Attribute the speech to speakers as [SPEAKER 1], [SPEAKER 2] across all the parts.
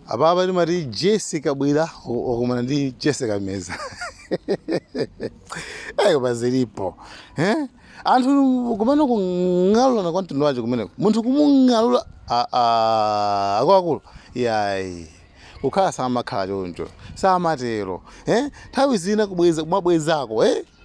[SPEAKER 1] Apapa timati Jesse Kabwira wa- wakumana ndi Jesse Kameza. Ayi paja zilipo. Eh? Anthu kumene kung'alulana kwa mtundu wake kumeneko. Munthu kumung'alula a a akuluakulu. Yayi. Kukhala samakhala choncho. Samatero. Eh? Nthawi zina kubweza kumabwezako, eh?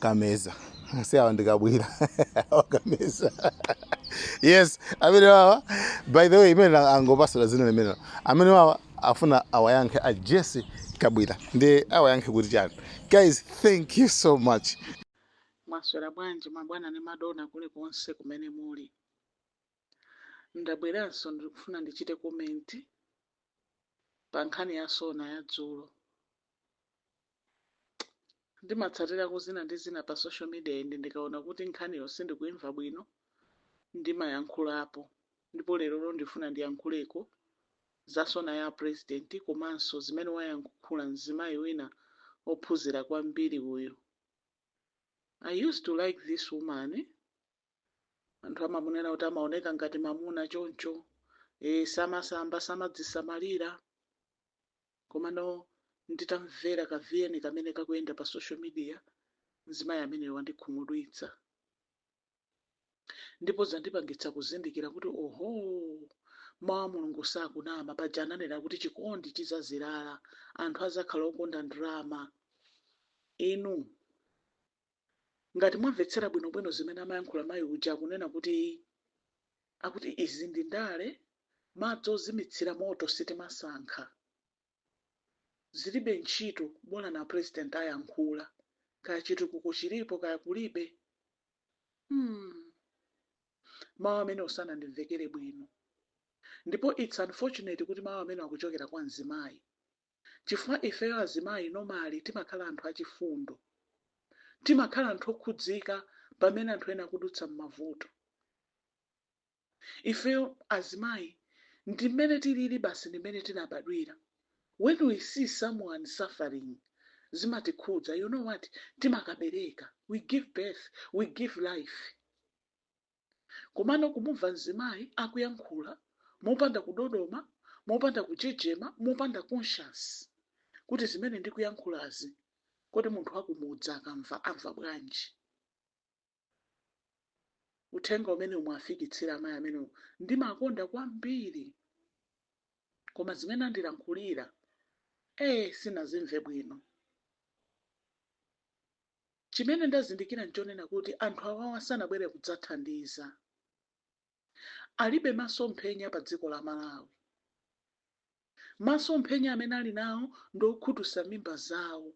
[SPEAKER 1] kameza si awa ndi kabwira awa kameza yes amene wawa by the way amene angowapatsa dzina limenelo amene wawa afuna awayankhe a jesse kabwira ndi awayankhe kuti chiyani guys thank you so much
[SPEAKER 2] mwaswera bwanji mabwana ndi madona kulikonse kumene muli ndabweranso ndikufuna ndichite komenti pa nkhani ya sona ya dzulo ndimatsatirako zina ndi zina pa social media and ndikaona kuti nkhaniyo sindikuimva bwino ndimayankhulapo ndipo lerolo ndifuna ndiyankhuleko za sona ya president komanso zimene wayankhula mzimayi wina ophunzira kwambiri uyu i used to like this woman anthu amamunena kuti amaoneka ngati mamuna choncho e, samasamba samadzisamalira Komano nditamvera ka vn kamene kakuyenda pa social media mzimayi ameneyu wandikhumudwitsa ndipo zandipangitsa kuzindikira kuti ohoo mau a Mulungu sakunama paja ananena kuti chikondi chizazilala anthu azakhala okonda ndrama inu Ngati mwamvetsera bwinobwino zimene amayankhula mayi uja akunena kuti akuti izi ndi ndale, madzi ozimitsira moto sitimasankha. Zilibe ntchito bolani a president ayankhula kaya chitukuko chilipo kaya kulibe. Hmm mawu amenewo sanandimvekere bwino ndipo its unfortunate kuti mawu amenewo akuchokera kwa mzimayi. chifukwa ifeyo azimayi normally timakhala anthu achifundo. Timakhala anthu okhudzika pamene anthu ena akudutsa m'mavuto. Ifeyo azimayi ndi mmene tilili basi ndi mmene tinabadwira. When we see someone suffering zimatikhudza, you know what, timakabereka, we give birth, we give life. Komano kumumva mzimayi akuyankhula mopanda kudodoma, mopanda kujejema, mopanda conscience kuti zimene ndikuyankhulazi kodi munthu wakumudzi akamva amva bwanji? Uthenga umenewo muwafikitsire amayi amenewo. Ndimakonda kwambiri koma zimene andilankhulira ee sinazimve bwino. Chimene ndazindikira n'chonena kuti anthu awawa sanabwere kudzathandiza. Alibe masomphenya pa dziko la Malawi. Masomphenya amene ali nawo ndi okhutusa mimba zawo,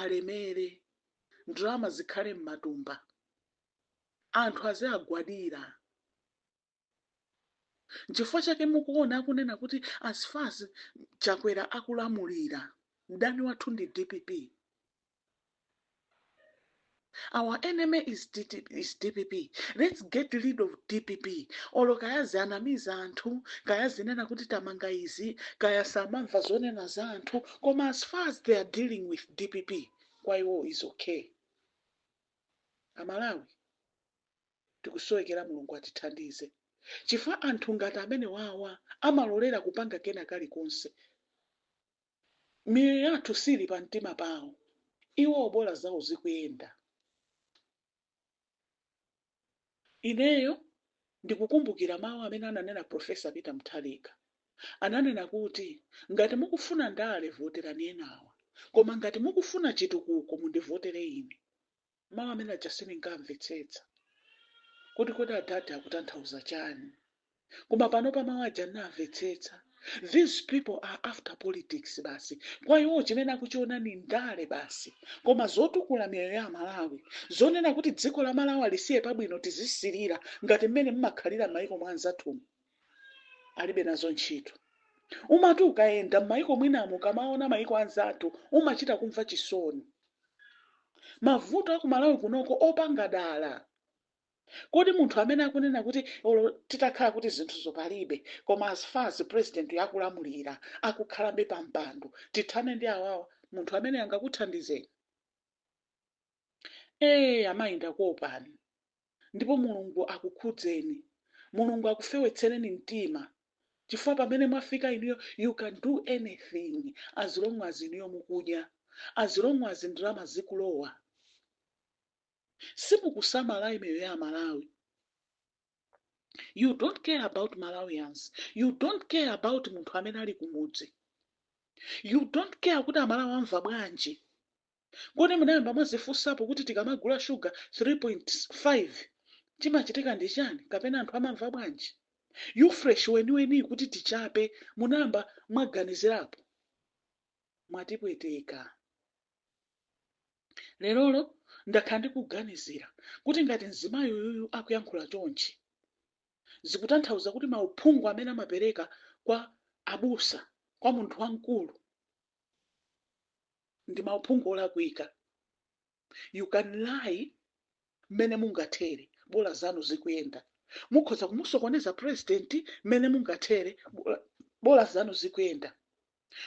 [SPEAKER 2] alemere, ndalama zikhale m'matumba, anthu aziagwadira. Nchifukwa chake mukuona akunena kuti as far as Chakwera akulamulira, mdani wathu ndi dpp. Our enemy is dpp. Let's get rid of dpp. Olo kaya zianamiza anthu, kaya zinena kuti tamanga izi, kaya samamva zonena za anthu, koma as far as they are dealing with dpp, kwa iwo is okay. Amalawi, Tikusowekera Mulungu atithandize chifukwa anthu ngati amenewawa amalolera kupanga kena kalikonse miyoyo yathu sili pa mtima pawo iwowo bola zawo zikuyenda. Ineyo ndikukumbukira mawu amene ananena Professor Peter Mutharika ananena kuti ngati mukufuna ndale voterani enawa koma ngati mukufuna chitukuko mundivotere ine. Mawu amene aja sindinkawamvetsetsa kuti kodi adadi akutanthauza chani, koma panopa mawu aja ndawamvetsetsa. These people are after politics basi. Kwa iwo chimene akuchiona ni ndale basi. Koma zotukula miyoyo ya Amalawi, zonena kuti dziko la Malawi alisiye pabwino tizisilira ngati mmene mmakhalira m'mayiko mwa anzathumu, alibe nazo ntchito umati ukayenda m'mayiko mwinamo ukamaona mayiko anzathu umachita kumva chisoni mavuto a ku Malawi kuno ngopanga dala kodi munthu amene akunena kuti olo titakhala kuti zinthuzo palibe koma as far as president akulamulira akukhalabe pa mpando tithane ndi awawa munthu amene angakuthandizeni Eee amayi ndakuopani ndipo Mulungu akukhudzeni, Mulungu akufewetsereni mtima chifukwa pamene mwafika inuyo you can do anything as long as inuyo mukudya, as long as ndalama zikulowa. Simukusamala miyoyo ya amalawi, you don't care about Malawians, you don't care about munthu amene ali kumudzi, you don't care kuti amalawi amva bwanji. Kodi munayamba mwazifunsapo kuti tikamagula shuga 3.5 chimachitika ndi chani kapena anthu amamva bwanji? Ufresh weniweni kuti tichape munayamba mwaganizirapo? Mwatipweteka. Lerolo ndakhala ndikuganizira kuti ngati mzimayi uyuyu akuyankhula chonchi zikutanthauza kuti mauphungu amene amapereka kwa abusa kwa munthu wamkulu ndi mauphungu olakwika you can lie mmene mungathere bola zanu zikuyenda mukhoza kumusokoneza president mmene mungathere bola- bola zanu zikuyenda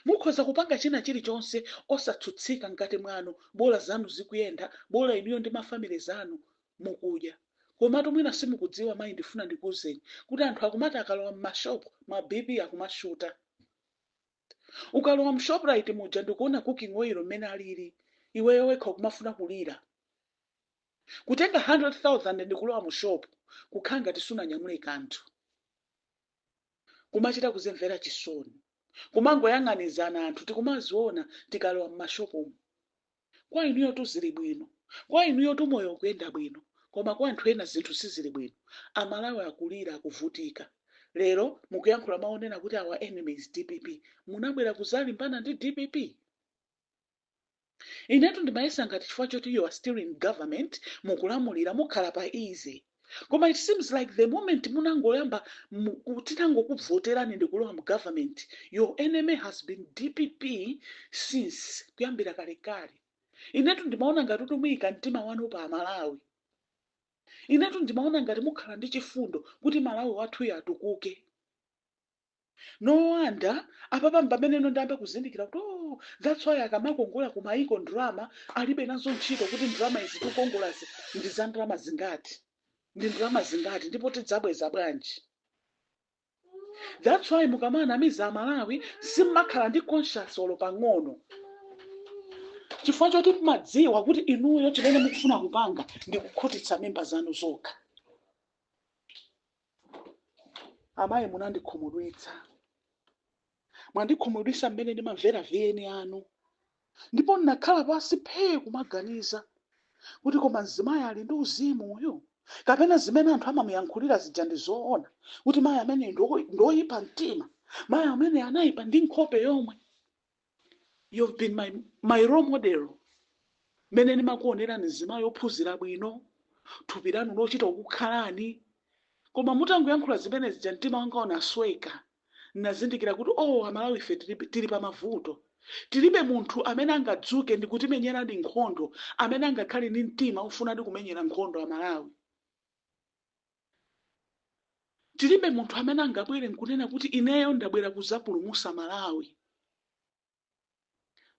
[SPEAKER 2] mukhoza kupanga china chilichonse osatsutsika mkati mwanu bola zanu zikuyenda bola inuyo ndi mafamile zanu mukudya komatu mwina simukudziwa mayi ndifuna ndikuwuzeni kuti anthu akumati akalowa m'mashopu ma bp akumashuta ukalowa mu shoprite muja ndikuona cooking oil mmene alili iweyo wekha ukumafuna kulira kutenga 100000 ndikulowa mu shop kukhala ngati sunanyamule kanthu kumachita kuzimvera chisoni kumangoyang'anizana anthu tikumaziona tikalowa m'mashopumu Kwa inuyotu zili bwino, kwa inuyotu moyo ukuyenda bwino koma kwa anthu ena zinthu sizili bwino. A Malawi akulira, akuvutika. Lero mukuyankhula mau onena kuti our enemy is dpp. Munabwera kuzalimbana ndi dpp? Inetu ndimayesa ngati chifukwa choti you are still in government, mukulamulira, mukhala pa easy. koma it seems like the moment munangoyamba mu- ku- tinangokuvoterani ndikulowa mu government your enemy has been dpp since kuyambira kalekale inetu ndimaona ngati kuti muyika mtima wanu pa amalawi inetu ndimaona ngati mukhala ndi chifundo kuti malawi wathuyo atukuke no wonder apapa mpameneno ndayamba kuzindikira kuti oh, that's why akamakongola ku maiko ndalama alibe nazo ntchito kuti ndalama izi tikukongolazi ndi za ndalama zingati ndi ndalama zingati ndipo tidzabweza bwanji that's why mukamanamiza amalawi simmakhala ndi conscience olo pang'ono chifukwa choti mumadziwa kuti inuyo chimene mukufuna kupanga ndi kukhutitsa mimba zanu zokha amayi munandikhumudwitsa mwandikhumudwitsa mmene ndimamvera vn anu ndipo ndinakhala pansi phee kumaganiza kuti koma mzimayi ali ndi uzimu uyu kapena zimene anthu amamuyankhulira zija ndi zoona kuti mayi amene ndo- ndoyipa mtima mayi amene anayipa ndi nkhope yomwe you've been my, my role model mmene ndimakuonerani mzimayi ophunzira bwino thupi lanu lochita kukukhalani koma mutangoyankhula zimene zija mtima wanga unasweka nazindikira kuti oh amalawi ife tilibe- tili pa mavuto tilibe munthu amene angadzuke ndi kutimenyeradi nkhondo amene angakhale ndi mtima ofunadi kumenyera nkhondo amalawi tilibe munthu amene angabwere nkunena kuti ineyo ndabwera kuzapulumusa malawi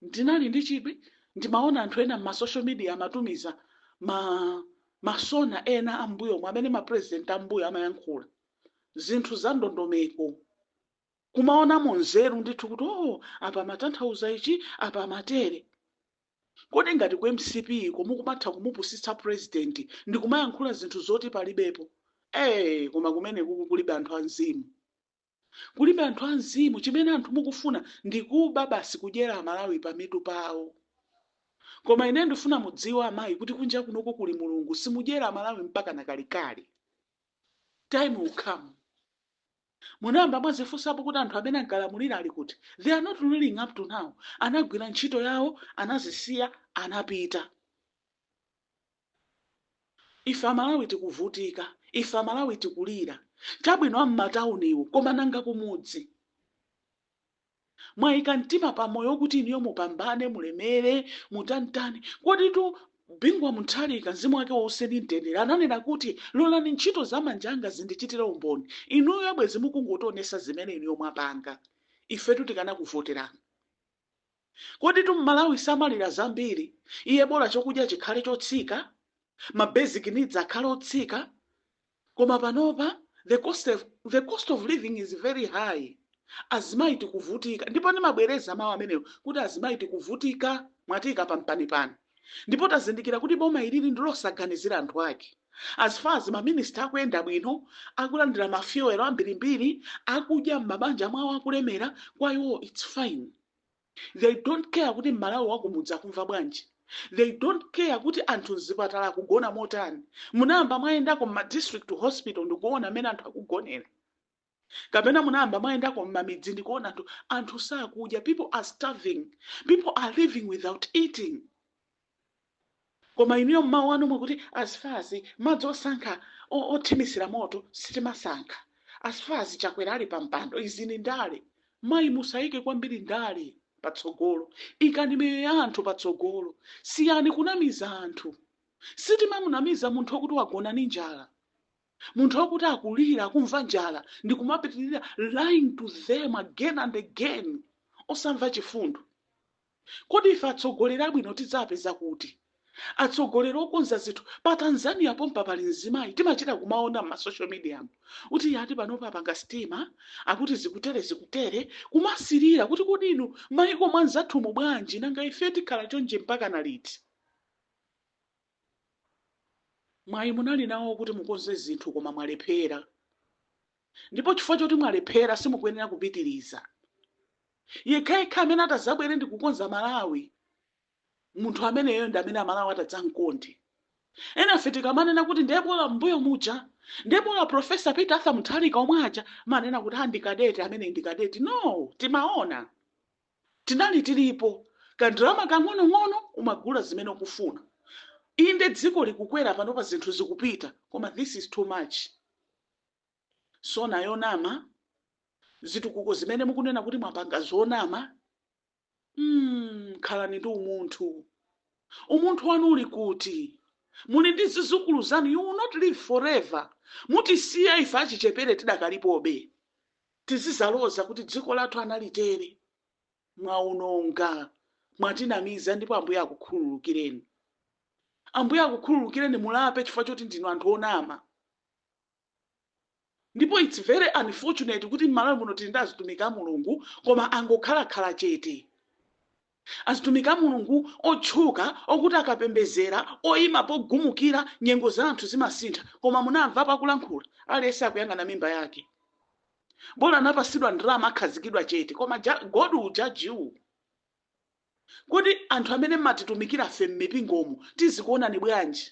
[SPEAKER 2] ndinali ndi chidwi ndimaona anthu ena ma social media amatumiza ma ma sound ena ambuyomo amene ma president ambuyo amayankhula zinthu za ndondomeko kumaonamo nzeru ndithu kuti oh apa amatanthauza ichi apa amatere Kodi ngati ku mcp ko mukumatha kumupusitsa president ndikumayankhula zinthu zoti palibepo ee koma kumenekuku kulibe anthu a mzimu kulibe anthu a mzimu chimene anthu mukufuna ndi kuba basi kudyera amalawi pa mitu pawo koma ine ndifuna mudziwe amayi kuti kunja kunoko kuli mulungu simudyera amalawi mpakana kalekale time will come Munayamba mwazifunsapo kuti anthu amene ankalamulira ali kuti? They are not ruling up to now. Anagwira ntchito yawo, anazisiya, anapita. Ife Amalawi tikuvutika. Ife Amalawi tikulira. Chabwino a m'matauniwo, koma nanga kumudzi? mwaika mtima pa moyo kuti inuyo mupambane, mulemere, mutanitani. Koditu Bingu wa Mutharika, mzimu wake uwuse ndi mtendere, ananena kuti, lolani ntchito za manja anga zindichitire umboni. Inuyo bwezi mukungotionesa zimene inuyo mwapanga. Ifetu tikanakuvoterani. Koditu Mmalawi samalira zambiri, iye bola chokudya chikhale chotsika, ma basic needs akhale otsika. Koma panopa the cost of living is very high azimayi tikuvutika ndipo ndimabwereza mawu amenewo kuti azimayi tikuvutika mwatiika pampanipani ndipo tazindikira kuti boma ilili ndilosaganizira anthu ake as far as ma minister akuyenda bwino akulandira ma fuel ambirimbiri akudya m'mabanja mwawo akulemera kwa iwo it's fine they don't care kuti mmalawi wakumudzi akumva bwanji they don't care kuti anthu mzipatala akugona motani munayamba mwayendako mma district hospital ndikuona mmene anthu akugonera kapena munayamba mwayendako mmamidzi ndikuona anthu anthu sakudya people are starving people are living without eating koma inuyo mmawu anu okuti as far as madzi osankha othimitsira moto sitimasankha as far as chakwera ali pa mpando izi ndi ndale mayi musayike kwambiri ndale patsogolo ikani miyoyo ya anthu patsogolo siyani kunamiza anthu sitimamunamiza munthu okuti wagona ndi njala munthu okuti akulira akumva njala ndi kumapitirira lying to them again and again osamva chifundo Kodi ife atsogoleri abwino tidzapeza kuti? Atsogoleri okonza zinthu pa Tanzania pompa pali mzimayi timachita kumaona mma social media mu kuti iye ati panopa apanga sitima akuti zikutere zikutere kumasirira kuti kodi inu maiko mwa nzathumu bwanji nanga ife tikhala chonchi mpakana liti? Mwayi munali nawo okuti mukonze zinthu koma mwalephera ndipo chifukwa choti mwalephera simukuyenera kupitiliza. Yekhayekha amene atazabwere ndikukonza Malawi munthu ameneyo ndi amene amalawi atadzamkonde. Enafe tikamanena kuti nde bola mmbuyo muja, nde bola Professor Peter Arthur Mutharika omwe aja amanena kuti a ndi cadet ameneyi ndi cadet no timaona tinali tilipo ka ndalama kang'onong'ono umagula zimene ukufuna inde dziko likukwera panopa zinthu zikupita koma this is too much. SONA yonama zitukuko zimene mukunena kuti mwapanga zonama mm, khalani ndi umunthu umunthu wanu uli kuti muli ndi zizukulu zanu you will not live forever mutisiya ife achichepere tidakalipobe tizizaloza kuti dziko lathu analitere mwaononga mwatinamiza ndipo ambuye akukhululukireni ambuye akukhululukireni mulape chifukwa choti ndinu anthu onama ndipo its very unfortunate kuti mmalawi muno tili ndi azitumiki a mulungu koma angokhala khala chete azitumiki a mulungu otchuka okuti akapembezera oyima pogumukira nyengo za anthu zimasintha koma munamva pakulankhula aliyense akuyang'ana mimba yake bola anapasidwa ndalama akhazikidwa chete koma God will judge you Kodi anthu amene mmatitumikirafe mmipingomu tizikuonani bwanji?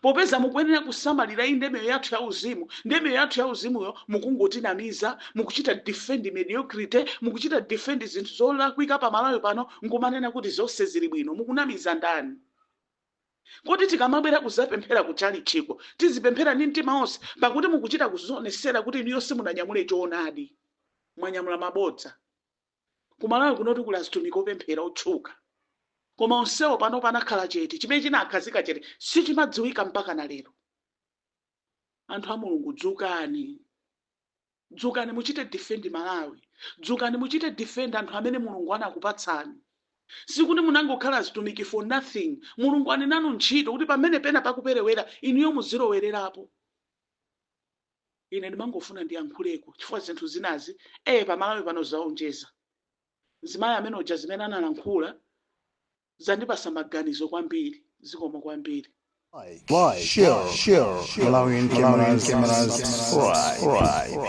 [SPEAKER 2] Popeza mukuyenera kusamalira inde miyoyo yathu ya uzimu, ndiye miyoyo yathu ya uzimuyo mukungotinamiza, mukuchita defend mediocrity, mukuchita defend zinthu zolakwika pa Malawi pano nkumanena kuti zonse zili bwino. Mukunamiza ndani? Kodi tikamabwera kuzapemphera ku chalichiko tizipemphera ndi mtima onse? Pakuti mukuchita kuzionesera kuti inuyo simunanyamule choonadi, mwanyamula mabodza. Ku Malawi kunotu kuli azitumiki opemphera otchuka, koma onsewo panopa anakhala chete. Chimene chinawakhazika chete sichimadziwika mpakana lero. Anthu a Mulungu, dzukani! Dzukani muchite defend Malawi. Dzukani muchite defend anthu amene Mulungu anakupatsani. Sikuti munangokhala azitumiki for nothing. Mulungu ali nanu ntchito kuti pamene pena pakuperewera, inuyo muzilowererapo. ine ndimangofuna ndiyankhuleko chifukwa zinthu zinazi ee pamalawi pano zaonjeza mzimayi amene uja zimene analankhula zandipasa maganizo kwambiri zikomo kwambiri
[SPEAKER 3] Like, share, Malawian cameras, subscribe.